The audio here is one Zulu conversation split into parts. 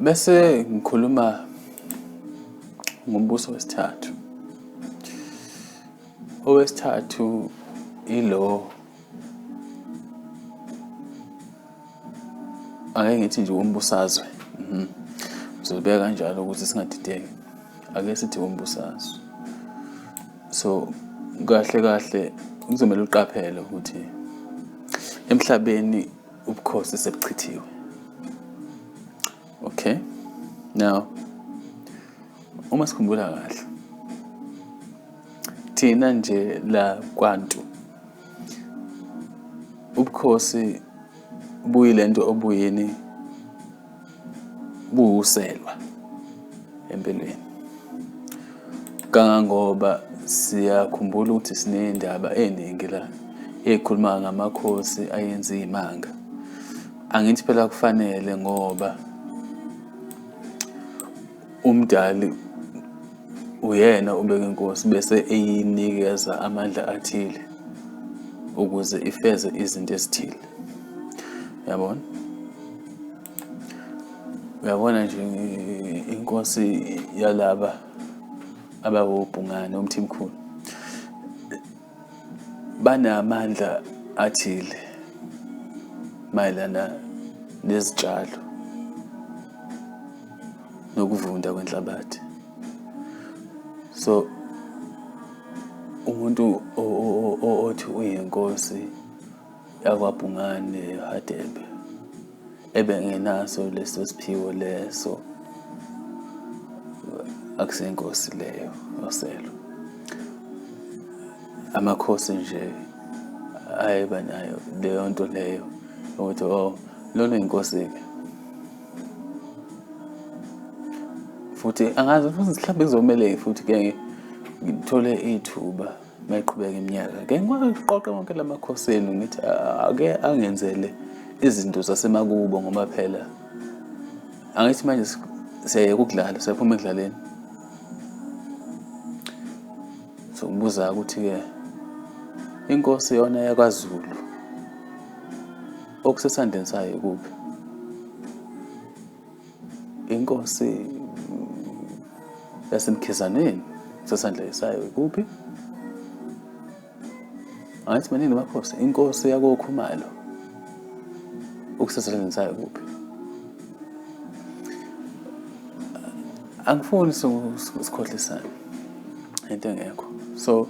Bese ngikhuluma ngombuso wesithathu. Owesithathu ilo ake ngithi nje wombusazwe. Mhm. Ngizobeka kanjalo ukuthi singadideki. Ake sithi wombusazwe. So kahle kahle kuzomele uqaphele ukuthi emhlabeni ubukhosi sebuchithiwe okay now uma sikhumbula kahle thina nje la kwantu ubukhosi buyilento obuyini buwuselwa empilweni kangangoba siyakhumbula ukuthi sinendaba eningi la ekhuluma ngamakhosi ayenza imanga angithi phela kufanele ngoba UMdali uyena obeka inkosi bese eyinikeza amandla athile ukuze ifeze izinto ezithile. Yabona? Uyabona nje inkosi yalaba abawobhungane uMthimkhulu. banamandla athile mayelana nezitshalo nokuvunda kwenhlabathi so umuntu othi uyinkosi yakwabhungane hadebe ebengenaso leso siphiwo leso akusenkosi leyo yoselo amakhosi nje ayeba nayo leyo nto leyo ukuthi o oh, lona inkosi-ke futhi angazi futhi mhlawumbe kuzomele futhi ke ngithole ithuba Mayiqhubeka iminyaka ke ngiwaqoqe wonke la makhosi enu ngithi ake angenzele izinto zasemakubo ngoba phela angithi manje siyayeka ukudlala siyaphuma ekudlaleni sokubuza ukuthi-ke inkosi yona yakwaZulu okusesandleni sayo kuphi inkosi yasemkhizaneni sesandla isayo ikuphi angithi maningi amakhosi inkosi yakokhumalo ukusesandleni sayo kuphi angifuni sikhohlisane into engekho so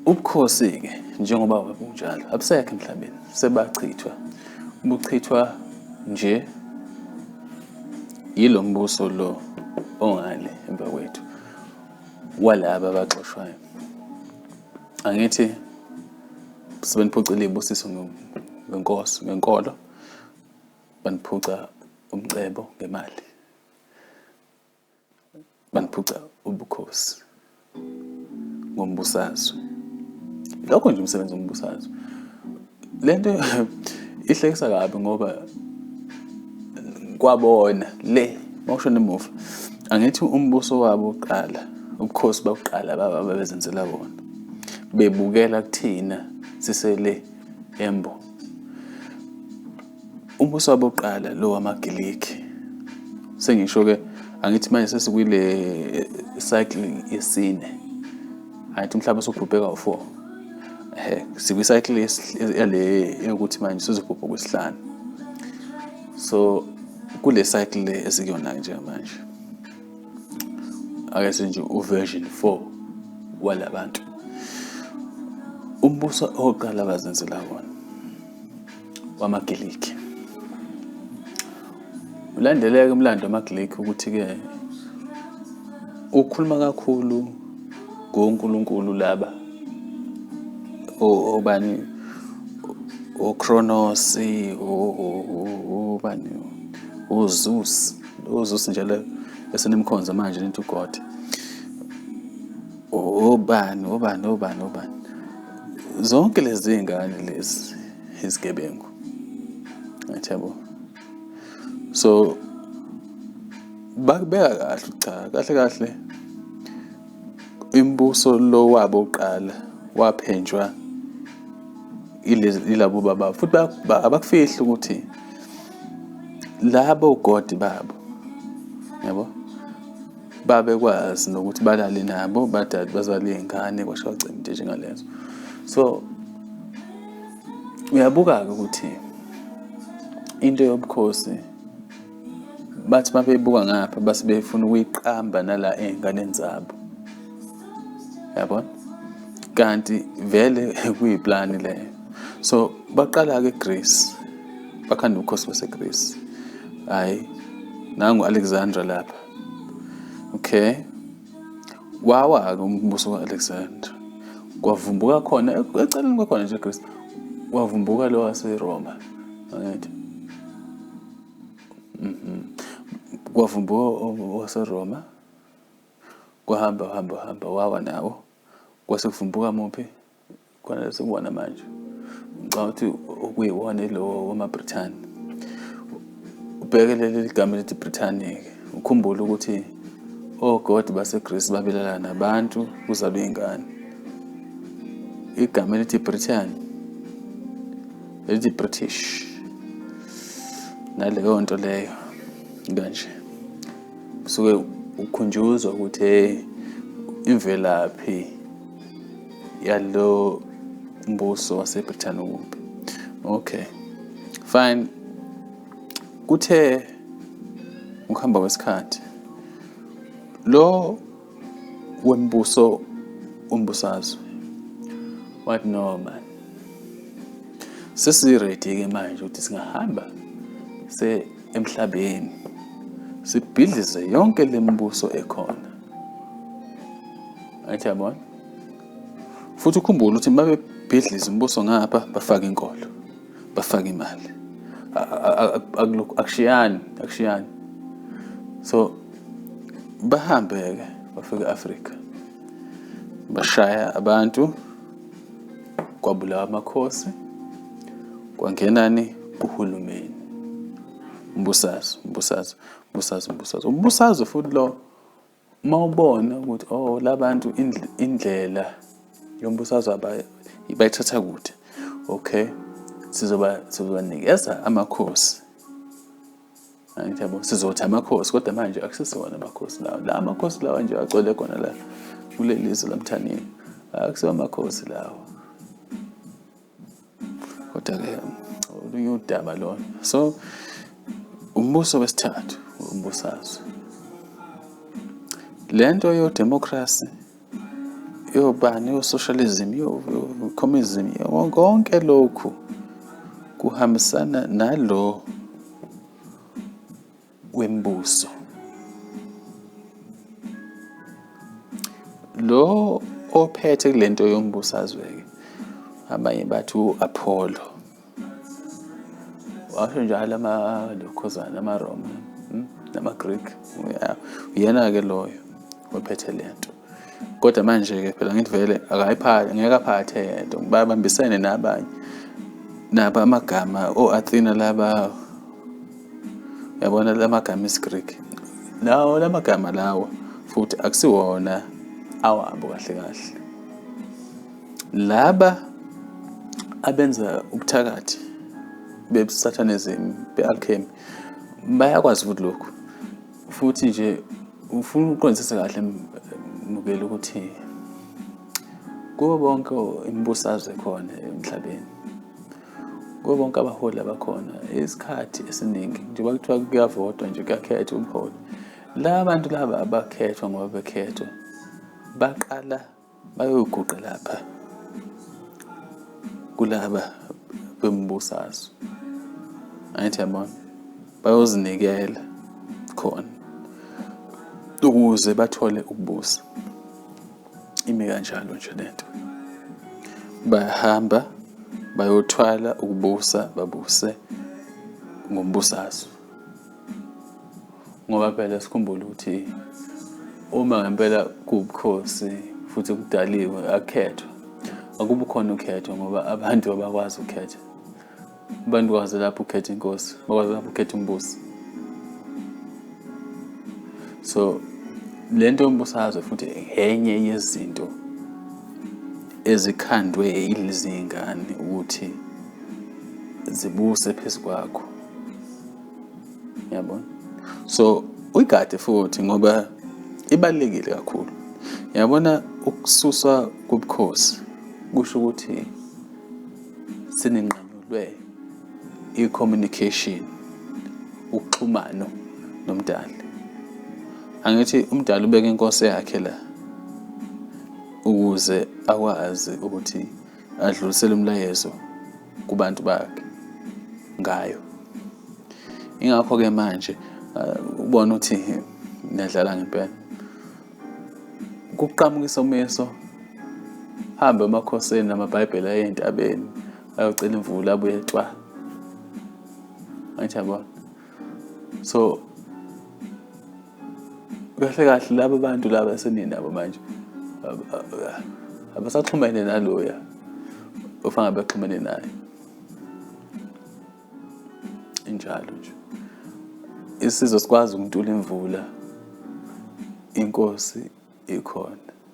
Ubukhosi-ke njengoba babunjalo abusekho emhlabeni, sebachithwa. Buchithwa nje yilo mbuso lo ongale emva kwethu walaba abaxoshwayo. Angithi sebeniphucile ibusiso ngenkosi ngenkolo baniphuca umcebo ngemali. baniphuca ubukhosi ngombusazwe lokho nje umsebenzi wombusazwe le nto ihlekisa kabi ngoba kwabona le mawushona emuva angithi umbuso wabo uqala ubukhosi bakuqala baba babezenzela bona bebukela kuthina sisele embo Umbuso wabokuqala lo wamaGiligi. Sengisho-ke angithi manje sesikwile eh, cycle yesine. Angithi umhlaba usubhubhe kawu-four. Ehe, sikwi-cycle yale yokuthi manje sizobhubha kwesihlanu. So kule cycle le esikuyona-ke njengamanje. Ake senje uversion 4 walabantu. Umbuso oqala abazenzela wona. wamaGiligi. Ulandeleke umlando wamaGiligi ukuthi-ke ukhuluma kakhulu ngoNkulunkulu laba obani uCronos ubani uZeus uZeus nje le esenimkhonza manje into uGod obani obani obani obani zonke lezi ngane lezi izigebengu ngiyabo so bakubeka kahle cha kahle kahle imibuso lo wabo uqala waphenjwa ilabo baba futhi abakufihli ukuthi labo godi babo yabo babekwazi nokuthi balale nabo badade bazali iy'ngane kwashiwa cima into njengalezo so uyabuka-ke ukuthi into yobukhosi bathi uma beyibuka ngapha base befuna ukuyiqamba nala ey'nganeni zabo yabona kanti vele kuyiplani leyo so baqala-ke egreece bakhanda ubukhosi basegreece hhayi nangu-alexandra lapha okay wawa-ke umbuso ka-alexander kwavumbuka khona eceleni kwakhona nje kristu wavumbuka lo waseroma angithi mhm. kwavumbuka waseroma kwahamba hamba hamba wawa nawo kwase kuvumbuka muphi khona lesikuwona manje ngicabanga ukuthi okuyiwona lo wamabrithani ubheke leli ligama elithi brithani-ke ukhumbule ukuthi ogodi oh basegrisi babelala nabantu kuzalwa iy'ngane igama elithi britain elithi british naleyo nto leyo kanje kusuke ukhunjuzwa ukuthi imvelaphi yalo mbuso waseBrithani okubi okay fine kuthe ukuhamba kwesikhathi lo wembuso umbusazwe what no man sesiredi ke manje ukuthi singahamba se emhlabeni sibhidlize yonke lembuso ekhona Athi yabona. Futhi ukhumbule ukuthi babebhidliza umbuso ngapha bafaka inkolo. Bafaka imali. Akushiyani, akushiyani. So bahambe ke bafika Africa. Bashaya abantu kwabulawa amakhosi kwangenani kuhulumeni umbusazwe umbusazwe umbusazwe umbusazwe umbusazwe futhi lo Uma ubona ukuthi oh labantu indlela yombusazwe bayithatha kude okay sizoba sizobanikeza amakhosi angithi yabo sizothi amakhosi kodwa manje akusisona amakhosi lawa la amakhosi lawa nje agcwele khona la kuleli zwe lamthanini akusiwo amakhosi lawa kodwa ke olunye udaba lona so umbuso wesithathu umbusazwe le nto yodemokhrasi yobani yosocialism yocommunism konke lokhu kuhambisana nalo kwembuso. Lo ophethe kule nto yombusazwe-ke abanye bathi u-Apollo washo njalo amalokhozana amaRoma hmm, namaGreek uyena-ke loyo ophethe le nto Kodwa manje-ke phela ngithi vele akayiphathi ngeke aphathe yedwa babambisene nabanye nabo amagama o-athena laba yabona la magama esiGreek lawo la magama lawo futhi akusiwona awabo kahle kahle laba abenza ubuthakathi bebusathanism be-alchemy bayakwazi ukuthi lokhu futhi nje ufuna uqondisise kahle mukeli ukuthi kubo bonke imbusazwe khona emhlabeni kubo bonke abaholi abakhona isikhathi esiningi njengoba kuthiwa kuyavotwa nje kuyakhethwa umholi la bantu laba abakhethwa ngoba bekhethwa baqala Bayoguqa lapha kulaba bembusazwe. Angithi yabona bayozinikela khona ukuze bathole ukubusa. Ime kanjalo nje lento. Bayahamba bayothwala ukubusa babuse ngombusazwe. ngoba phela sikhumbule ukuthi uma ngempela kuwubukhosi futhi kudaliwe akukhethwa akubi khona ukhetho ngoba abantu abakwazi ukukhetha abantu kwazi lapho ukhetha inkosi bakwazi lapho ukhetha umbusi so le nto yombusazwe futhi enye yezinto ezikhandwe yilezi ngane ukuthi zibuse phezu kwakho yabo so uyigade futhi ngoba ibalulekile kakhulu yabona ukususwa kobukhosi kusho ukuthi sininqanyulwe i-communication uxhumano nomdali angithi umdali ubeka inkosi yakhe la ukuze akwazi ukuthi adlulisele umlayezo kubantu bakhe ngayo. Ingakho-ke manje uh, ubona ukuthi niyadlala ngempela. Kuqhamuka isomiso, hambe emakhosini namaBhayibheli aye entabeni ayocela imvula abuye etshwala. Angithi yabona? so kahle kahle laba bantu laba eseninabo manje abasaxhumene naloya ofanga baxhumene naye injalo nje isizwe sikwazi ukuntula imvula inkosi ikhona